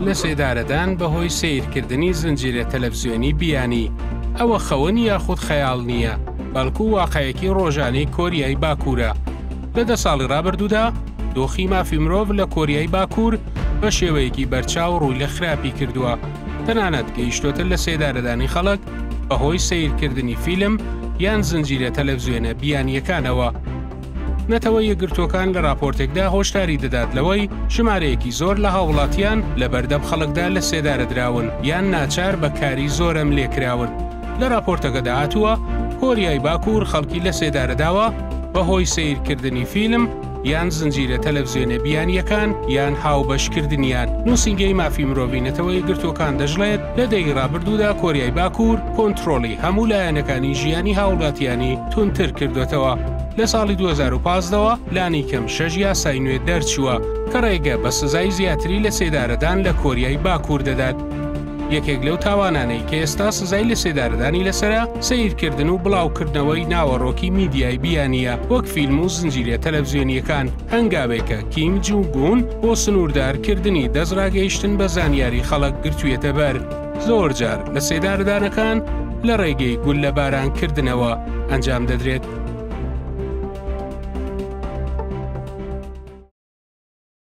لە سێدارەدان بەهۆی سەیرکردنی زنجیرە تەلەفزیۆنی بیانی، ئەوە خەون یاخود خەیاڵ نییە، بەڵکو واقعێکی ڕۆژانەی کۆریای باکوورە. لە دە ساڵی ڕابردوودا، دۆخی مافی مرۆڤ لە کۆریای باکوور بە شێوەیەکی بەرچاو ڕووی لە خراپی کردووە، تەنانەت گەیشتۆتە لە سێدارەدانی خەڵک بەهۆی سەیرکردنی فیلم یان زنجیرە تەلەفزیۆنە بیانییەکانەوە. نەتەوە یەکگرتووەکان لە راپۆرتێکدا هۆشداری دەدات لەوەی ژمارەیەکی زۆر لە هاوڵاتیان لە بەردەم خەڵکدا لە سێدارە دراون یان ناچار بە کاری زۆرەم لێکراون لە راپۆرتەکەدا هاتووە کۆریای باکوور خەڵکی لە سێدارەداوە بەهۆی سیرکردنی فیلم یان زنجیرە تەلەڤزیۆنە بیانیەکان یان هاوبەشکردنیان نووسنگەی مافی مرۆڤی نەتەوەی گرتوەکان دەژڵێت لە دەی رابردوودا کۆریای باکوور کۆنترۆڵی هەموو لایەنەکانی ژیانی هاوڵاتیانی تونتر کردوتەوە. لە ساڵی 2015ەوە لانی کەم شەش یاسای نوێ دەرچووە کە ڕێگە بە سزای زیاتری لە سێدارەدان لە کۆریای باکوور دەدات. یەکێک لەو تاوانانەی کە ئێستا سزای لە سێدارەدانی لەسەرە سەیرکردن و بڵاوکردنەوەی ناوەڕۆکی میدیای بیانیە وەک فیلم و زنجیرە تەلەڤزیۆنیەکان هەنگاوێکە کیم جونگ ئون بۆ سنووردارکردنی دەستڕاگەیشتن بە زانیاری خەڵک گرتوویەتە بەر. زۆر جار لە سێدارەدانەکان لە ڕێگەی گوللەباران کردنەوە ئەنجام دەدرێت.